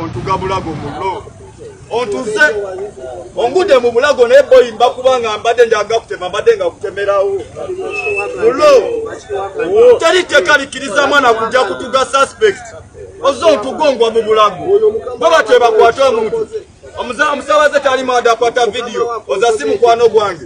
ontugabulago mulo otuze ongude mu bulago naye boyi mba kubanga mbadde njaga kutema mbadde nga kutemerawo mulo teri tteka likkiriza mwana kujja kutuga suspect oze ontugongwa mu bulago bwe batwebakwata omuntu omusabaze tali mwada akwata vidiyo oza si mukwano gwange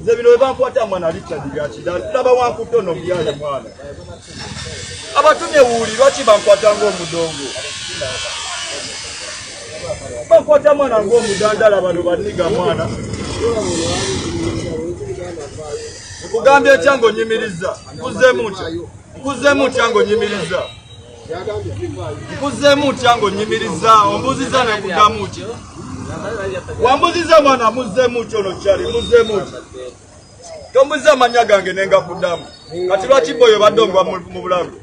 nze bino webankwata mwana richard byakidala tulaba wankuto no byale mwana abatumye wuuli lwaki bankwata ngaomudongo bankwata mwana ngaomudandala bano baniga mwana nkugambye ekya ngaonyimiriza nkuzeemu ntya nkuzeemu ntya ngaonyimiriza nkuzzeemu ntya ng'onnyimirizza ombuuzizza nekuddamu ki wambuziza mwana muzzeemu ki ono kyali muzzeemu ki tombuziza amannya gange ne ngakuddamu kati lwaki boyo badde ongwa mu bulago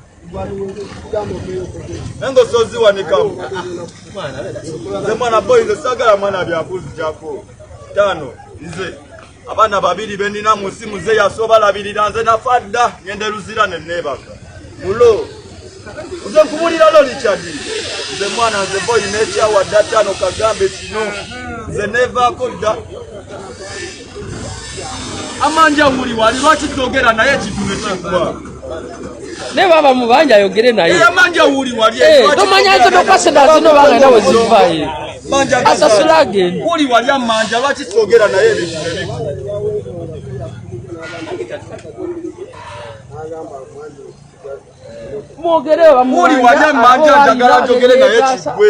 naye ngaosoziwanikamu nze mwana boyi nze sagala mwana byabuzi jako tano nze abaana babiri benina mu nsi muze yasoba labirira nze nafa dda ngende luzira ne neebaka mulo nze nkubulira lo likyadi nze mwana nze boyi n'ekyawa dda ttaano kagambe kino nze neevaako dda amanja wuli wali lwaki togera naye ekintu ne kigwa ne baba mubanja ayogere naye eh, eh, tomanya nze nokaseda zino bagenda wezivaye asasula agenda mwogere bamuli wali amanja njagala njogere naye kigwe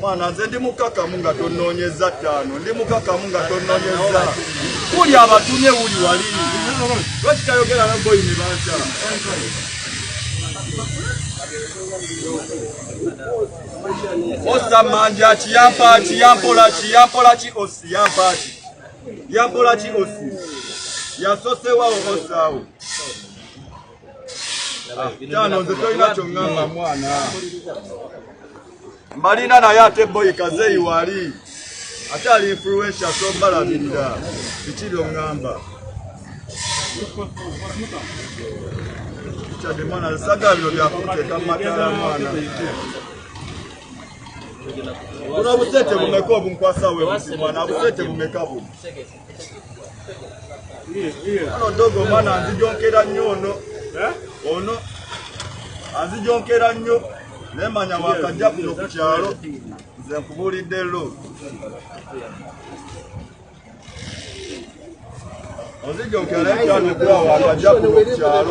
mwana nze ndi mukakamu nga tononyeza ttaano ndi mukakamu nga tononyeza kuli abatumye wuli wali lwaki tayogera na boyi ne banta osa manja ki yampa ki yampola ki yampola ki osi yampa ki yampola ki osi yasosewawo osaawo mbalina naye ate boyi kazeyi wali ate ali influensa tombalabirira biki byoŋŋamba kyade mwana saga bino byakuteeka matala mwana buno busente bumeka obunkwasa we mwana busente bumeka buno Ono dogo mwana anzijonkera nnyo ono eh? ono anzijonkera nnyo naye manya wakajja kuno ku kyalo nze nkubuulidde lo onzijonkera naye kyano gwawa akajja kuno ku kyalo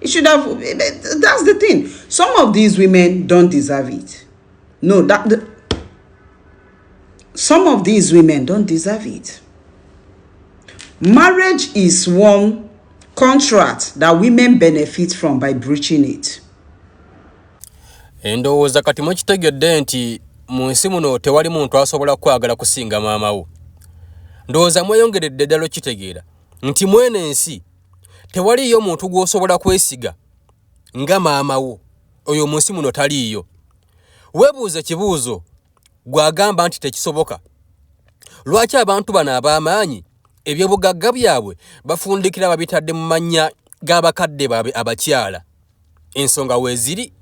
It should have. That's the thing. Some of these women don't deserve it. No, that. The, some of these women don't deserve it. Marriage is one contract that women benefit from by breaching it. endowooza kati mukitegedde nti mu nsi muno tewali muntu asobola kukwagala kusinga maama wo ndowooza mweyongeredde ddala okitegeera nti mweno ensi tewaliiyo muntu gw'osobola kwesiga nga maama wo oyo mu nsi muno taliiyo webuuza ekibuuzo gw'agamba nti tekisoboka lwaki abantu bano ab'amaanyi ebyobugagga byabwe bafundikira babitadde mu mannya g'abakadde baabwe abakyala ensonga weeziri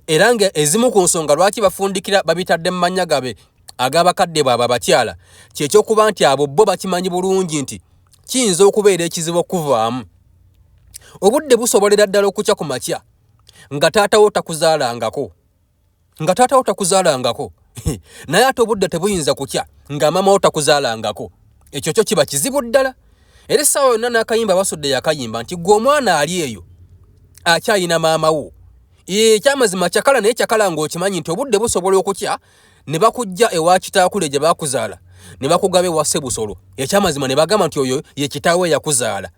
era nga ezimu ku nsonga lwaki bafundikira babitadde mu mannya gabe ag'abakadde baabwe abakyala kyekyokuba nti abo bo bakimanyi bulungi nti kiyinza okubeera ekizibu okuvaamu obudde busobolera ddala okukya ku makya nga taatawo takuzaalangako nga taatawo takuzaalangako naye ate obudde tebuyinza kukya nga maamawo takuzaalangako ekyo kyo kiba kizibu ddala era essaawa yonna n'akayimba basudde yakayimba nti gwe omwana ali eyo akyalina maama wo ekyamazima kyakala naye kyakala ng'okimanyi nti obudde busobola okukya ne bakujja ewa kitaakule gye baakuzaala ne bakugaba ewa ssebusolo ekyamazima ne bagamba nti oyo ye kitaawe yakuzaala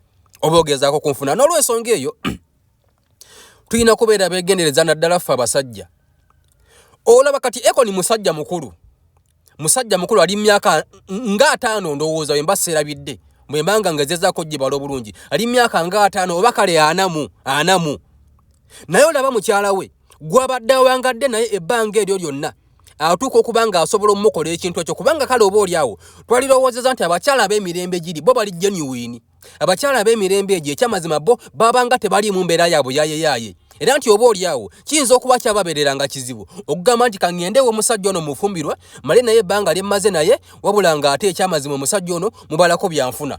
oba ogezaako kunfuna n'olwensonga eyo tulina kubeera beegendereza naddala ffe abasajja olaba kati ekoni musajja mukulu musajja mukulu ali myaka nga ataano ndowooza bwe mba seerabidde bwe mbanga nga ezezaako gibala obulungi ali myaka nga ataano oba kale anamu anamu naye olaba mukyala we gwabadde awangadde naye ebbanga eryo lyonna atuuka okuba ng'asobola omukola ekintu ekyo kubanga kale oba oli awo twalirowoozeza nti abakyala ab'emirembe giri bo bali genuwini abakyala ab'emirembe egyo ekyamazima bo babanga tebaliimu mbeera yaabwe yayeyaaye era nti oba oli awo kiyinza okuba kyababeerera nga kizibu okugamba nti kaŋŋendewo omusajja ono mufumbirwa male naye ebbanga lyemmaze naye wabula ng'ate ekyamazima omusajja ono mubalako byanfuna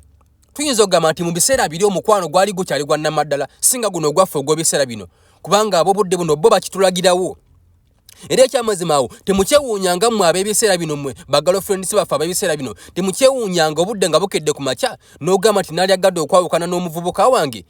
tuyinza okugamba nti mu biseera biri omukwano gwali gukyali gwa nnamaddala singa guno ogwaffe ogw'ebiseera bino kubanga ab'obudde buno bo bakitulagirawo era ekyamazima awo temukyewuunyanga mmwe ab'ebiseera bino mmwe bagalofrendisi baffe ab'ebiseera bino temukyewuunyanga obudde nga bukedde ku makya n'ogamba nti nalyagadde okwawukana n'omuvubuka wange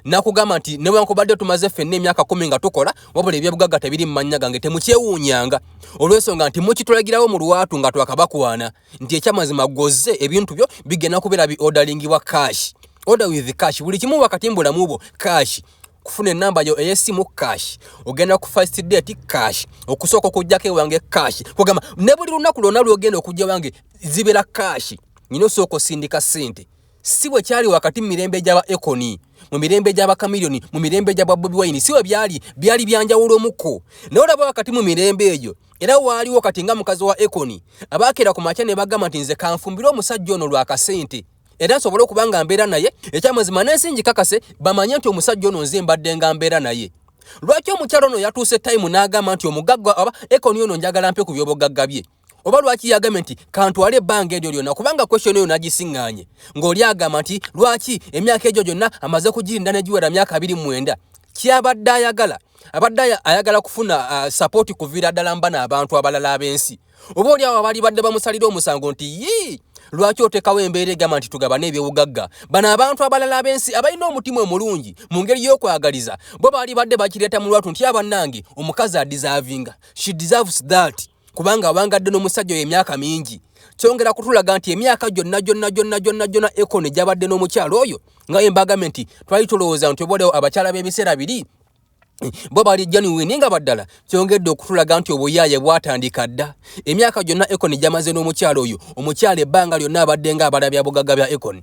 nakugamba nti newankubadde tumaze ffenna emyaka kumi nga tukola wabula ebyobugagga tebiri mu mannya gange temukyewuunyanga olw'ensonga nti mukitulagirawo mu lwatu nga twakabakwana nti ekyamazima gwozze ebintu byo bigenda kubeera bi odalingibwa cash order with cash buli kimu wakati mu bulamu bwo cash kufuna enamba yo eyesimu cash ogenda ku first date cash okusooka okujjako ewange cash kugamba ne buli lunaku lwonna lwogenda okujja wange zibeera cash nyina osooka osindika ssente si bwe kyali wakati mu mirembe gy'aba ekoni mu mirembe gy'aba kamiliyoni mu mirembe gy'aba bobi wayini si bwe byali byali byanjawulo omuko naye olaba wakati mu mirembe egyo era waaliwo kati nga mukazi wa ekoni abaakera ku makya ne bagamba nti nze kanfumbire omusajja ono lwa kasente era nsobole okuba nga mbeera naye ekyamazima n'ensi ngikakase bamanye nti omusajja ono nze mbadde nga mbeera naye lwaki omukyalo ono yatuuse tayimu n'agamba nti omugagga aba ekoni ono njagala mpe ku by'obugagga bye oba lwaki yagambye nti kantwale ebbanga eryo lyonna kubanga question eyo nagisiŋŋaanye ng'oli agamba nti lwaki emyaka egyo gyonna amaze kugirinda negiwera myaka abiri mwenda kyabadde ayagala abadde ayagala kufuna uh, sapooti kuviira ddala mbana abantu abalala ab'ensi oba oli awo abali badde bamusalira omusango nti yii lwaki otekawo embeera egamba nti tugabane ebyobugagga bano abantu abalala ab'ensi abalina omutima omulungi mu ngeri y'okwagaliza bo baali badde bakireeta mu lwatu nti abanange omukazi adizavinga she deserves that kubanga awangadde n'omusajja oyo emyaka mingi kyongera kutulaga nti emyaka gyonna gyonna gyonna gyonna gyonna ekoni gyabadde n'omukyalo oyo nga embagame nti twali tulowooza nti obaolewo abakyala b'ebiseera biri bo bali genuine nga baddala kyongedde okutulaga nti obuyaaye bwatandika dda emyaka gyonna ekoni gyamaze n'omukyalo oyo omukyalo ebbanga lyonna abadde nga abala bya bugagga bya ekoni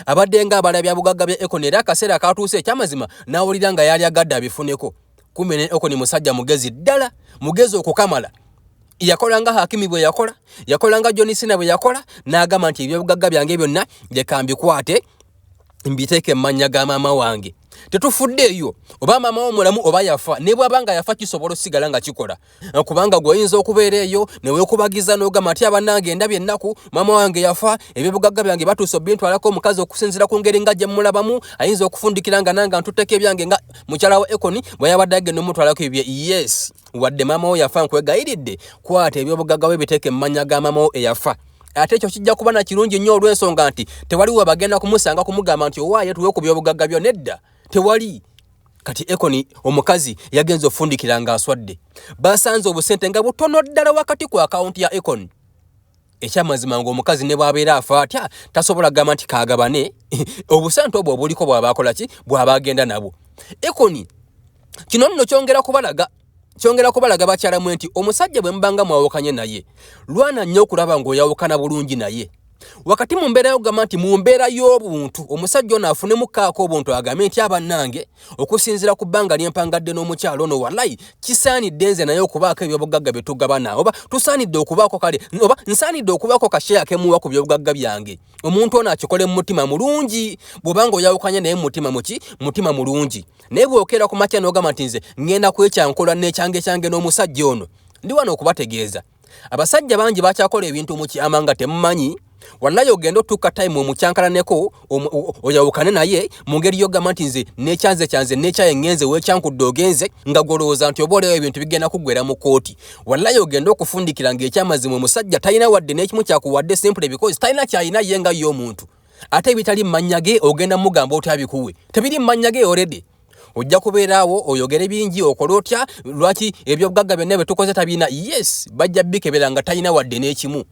Abadde nga abala bya bugagga bya Ekoni era akaseera akaatuuse ekyamazima n'awulira nga yaali agadde abifuneko. Kumbe ne Ekoni musajja mugezi ddala, mugezi okukamala. Yakola nga Hakimi bwe yakola, yakola nga John Cena bwe yakola, n'agamba nti ebyobugagga byange byonna leka mbikwate mbiteeke mu mannya ga maama wange. Tetufuddeeyo oba maama wo mulamu oba yafa, ne bw'aba nga yafa kisobola osigala nga kikola. kubanga gwoyinza okubeera eyo newekubagiza nogamba nti abanange endabye ennaku maama wange yafa ebyobugagga byange batuusa obintwalako omukazi okusinzira ku ngeri nga gyemulabamu ayinza okufundikira nga nange ntuteko ebyange nga mukyala wa ekoni bweyabadde agenda omutwalako ebye yes wadde maama wo yafa nkwegayiridde kwata ebyobugagga bwe biteeka emmanya ga maama wo eyafa ate ekyo kijja kuba na kirungi nnyo olw'ensonga nti tewali webagenda kumusanga kumugamba nti owaaye tuwe ku byobugagga byo nedda tewali kati ekoni omukazi yagenze ofundikira nga aswadde basanze obusente nga butono ddala wakati ku akawunti ya ekoni ekyamazima nga omukazi ne bwabeera afa atya tasobola gamba nti kagabane obusente obwo obuliko bwabaakolaki bwaba agenda nabwo ekoni kino nno kyongera kubalaga Kyongera kubalaga bakyala mwe nti omusajja bwe mubanga mwawukanye naye lwana nnyo okulaba ng'oyawukana bulungi naye wakati mu mbeera yokugamba nti mu mbeera y'obuntu omusajja ono afunemu kaako obuntu agambe nti abannange okusinziira ku bbanga lyempangadde n'omukyalo ono walayi kisaanidde nze naye okubaako ebyobugagga bye tugabana oba tusaanidde okubaako kale oba nsaanidde okubaako kasheya kemuwa ku byobugagga byange omuntu ono akikole mu mutima mulungi bw'oba nga oyawukanye naye mumutima muki mutima mulungi naye bw'okeera ku makya n'ogamba nti nze ŋŋenda kwekyankola n'ekyanga ekyange n'omusajja ono ndi wano okubategeeza abasajja bangi bakyakola ebintu mu kyama nga temumanyi wallayi ogenda otuuka time omukyankalaneko oyawukane naye mu ngeri yogamba nti nze nekyanze kyanze nekyaye ngenze wekyankudde ogenze nga gwolowooza nti oba olewo ebintu bigenda kuggwera mu kooti wallayi ogende okufundikira nga ekyamazima omusajja talina wadde n'ekimu kyakuwadde simpule because talina kyalina ye nga ye omuntu ate ebitali mumanya ge ogenda mugamba otya bikuwe tebiri mumanya ge oredi ojja kubeeraawo oyogere bingi okole otya lwaki ebyobugagga byonna byetukoze tabina yes bajja bikebera nga talina wadde n'ekimu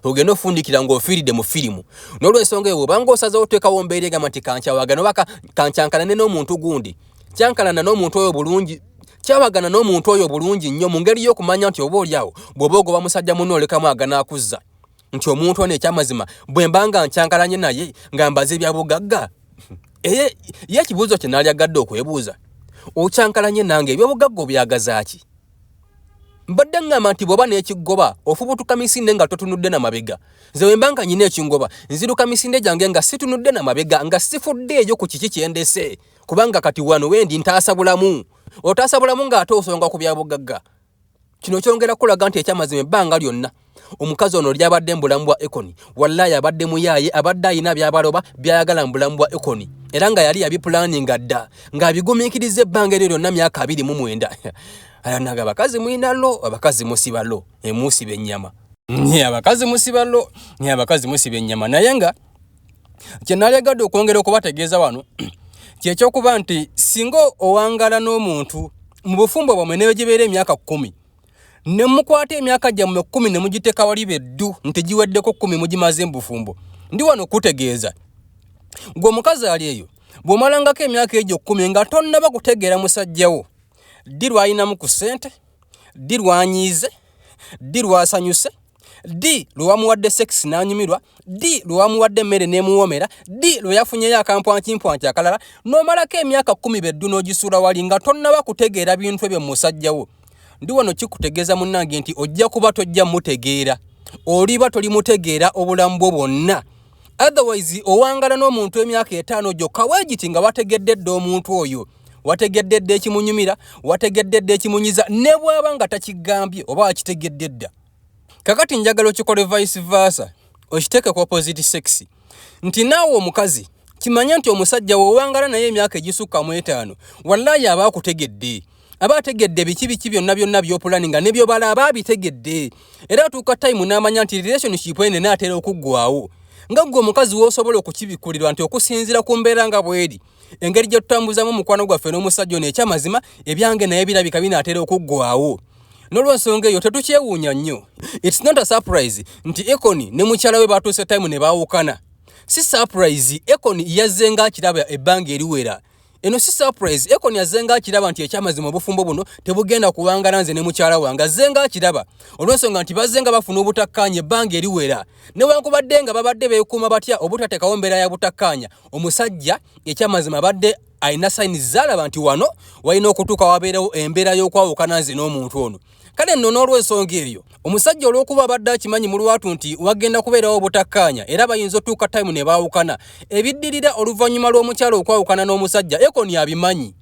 ogenda ofundikira ng'ofiiridde mu firimu n'olwensonga eyo obanga osazewo oteekawo mbeera egamba nti kankyawagana oba kankyankalane n'omuntu gundi kyankalana n'omuntu oyo bulungi kyawagana n'omuntu oyo bulungi nnyo mu ngeri y'okumanya nti oba olyawo bw'oba ogoba musajja muno olekamu aganaakuzza nti omuntu ono ekyamazima bwe mba nga nkyankalanye naye nga mbaze ebyabugagga eye ye ekibuuzo kye naalyagadde okwebuuza okyankalanye nange ebyobugagga obyagazaaki mbadde ŋŋamba nti bw'oba n'ekigoba ofubutuka misinde nga totunudde na mabega nze bwe mba nga nyina ekingoba nziruka misinde gyange nga situnudde na mabega nga sifudde eyo ku kiki kyendese kubanga kati wano wendi ntaasa bulamu otaasa bulamu ng'ate osonga ku byabugagga kino kyongera kulaga nti ekyamazima ebbanga lyonna omukazi ono lyabadde mu bulamu bwa ekoni wallayi abadde muyaaye abadde alina byabaloba byayagala mu bulamu bwa ekoni era nga yali yabipulaninga dda ng'abigumiikiriza ebbanga eryo lyonna myaka abiri mu mwenda alanaga abakazi mulina lo abakazi musiba lo emuusiba ennyama nye abakazi musiba lo nye abakazi musiba ennyama naye nga kye nalegadde okwongera okubategeeza wano kyekyokuba nti singa owangala n'omuntu mu bufumbo bwamwe neyo gibeera emyaka kkumi ne mukwata emyaka gyammwe kkumi ne mugiteeka wali be ddu nti giweddeko kkumi mugimaze mu bufumbo ndi wano okukutegeeza gwe omukazi ali eyo bw'omalangako emyaka egyo kkumi nga tonnaba kutegeera musajjawo ddi lw'alinamu ku ssente ddi lwanyiize ddi lwasanyuse ddi lwe wamuwadde sekisi n'anyumirwa ddi lwe wamuwadde emmere n'emuwoomera ddi lwe yafunyeyo akampwankimpwanki akalala n'omalako emyaka kkumi beddu n'ogisuula wali nga tonnaba kutegeera bintu ebyo mu musajja wo ndi wano kikutegeeza munnange nti ojja kuba tojja mutegeera oliba tolimutegeera obulamu bwo bwonna otherwise owangala n'omuntu emyaka etaano gyokka weegiti nga wategedde dda omuntu oyo wategedde dda ekimunyumira wategedde dda ekimunyiza ne bw'aba nga takigambye oba wakitegedde dda kakati njagala okikole vice versa okiteeke ku opposite sex nti naawe omukazi kimanye nti omusajja wewangala naye emyaka egisukka mu etaano wallayi aba akutegedde aba ategedde biki biki byonna byonna byopulani nga nebyobala aba abitegedde era atuuka time n'amanya nti relationship ene naatera okuggwawo nga ggwe omukazi woosobola okukibikkulirwa nti okusinziira ku mbeera nga bweri engeri gye tutambuzamu omukwano gwaffe n'omusajja ono ekyamazima ebyange naye birabika binaatera okuggwawo nolwensonga eyo tetukyewuunya nnyo its not a surprise nti econi ne mukyala we batuuse time ne baawukana si surprise econi yazze nga akiraba ebbanga eriwera eno si surprise econi azze nga akiraba nti ekyamazima obufumbo buno tebugenda kuwangala nze ne mukyala wange azze nga akiraba olwensonga nti bazze nga bafuna obutakkaanya ebbanga eriwera newankubadde nga babadde beekuuma batya obutateekawo mbeera ya butakkaanya omusajja ekyamazima abadde alina sayini zaalaba nti wano walina okutuuka wabeerewo embeera y'okwawukana nze n'omuntu ono kale nno n'olwensonga eyo omusajja olw'okuba abadde akimanyi mu lwatu nti wagenda kubeerawo obutakkaanya era bayinza otuuka tayimu ne baawukana ebiddirira oluvannyuma lw'omukyalo okwawukana n'omusajja ekoni abimanyi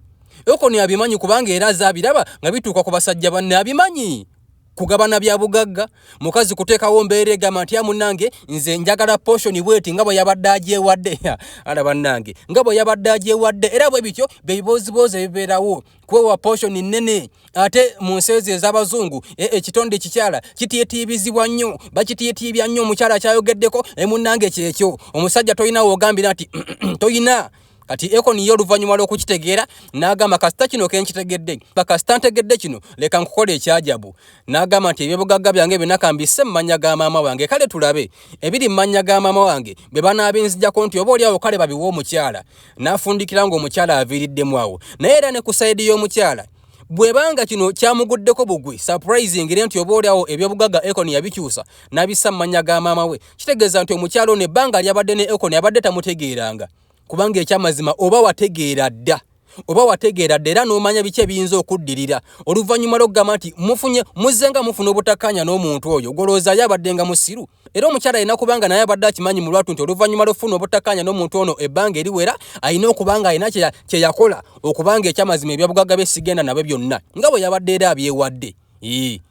ekoni abimanyi kubanga era aza abiraba nga bituuka ku basajja banne abimanyi kugabana bya bugagga mukazi kuteekawo mbeera egamba nti amunange nze njagala poshoni bweti nga bwe yabadde agyewadde ala bannange nga bwe yabadde agyewadde era bwe bityo bebibooziboozi ebibeerawo kwewa poshoni nnene ate mu nsi ezo ez'abazungu e, ekitonde ekikyala kitiitiibizibwa nnyo bakitiitiibya nnyo omukyala kyayogeddeko emunnange kyekyo omusajja tolina woogambira nti tolina kati ekoni ye oluvannyuma lw'okukitegeera n'agamba kasita kino ke nkitegedde bakasita ntegedde kino leka nkukola ekyajabu n'agamba nti ebyobugagga byange byonna kambisse mu mannya ga maama wange kale tulabe ebiri mu mannya ga maama wange bwe banaabinzijako nti oba olyawo kale babiwa omukyala n'afundikira ng'omukyala aviiriddemu awo naye era ne ku sayidi y'omukyala bwebanga kino kyamuguddeko bugwi surprising re nti oba olyawo ebyobugaga econ yabikyusa nabissa mu mannya ga maama we kitegeeza nti omukyalo ne ebbanga lyabadde ne econ abadde tamutegeeranga kubanga ekyamazima oba wategeera dda oba wategeera dda era n'omanya biki ebiyinza okuddirira oluvannyuma lw'okugamba nti mufunye muzzenga mufuna obutakkaanya n'omuntu oyo golowoozayo abadde nga musiru era omukyala alina kuba nga naye abadde akimanyi mu lwatu nti oluvannyuma lw'okufuna obutakkaanya n'omuntu ono ebbanga eriwera alina okuba nga alina kye yakola okuba nga ekyamazima ebyabugagga bye sigenda nabyo byonna nga bwe yabadde era abyewadde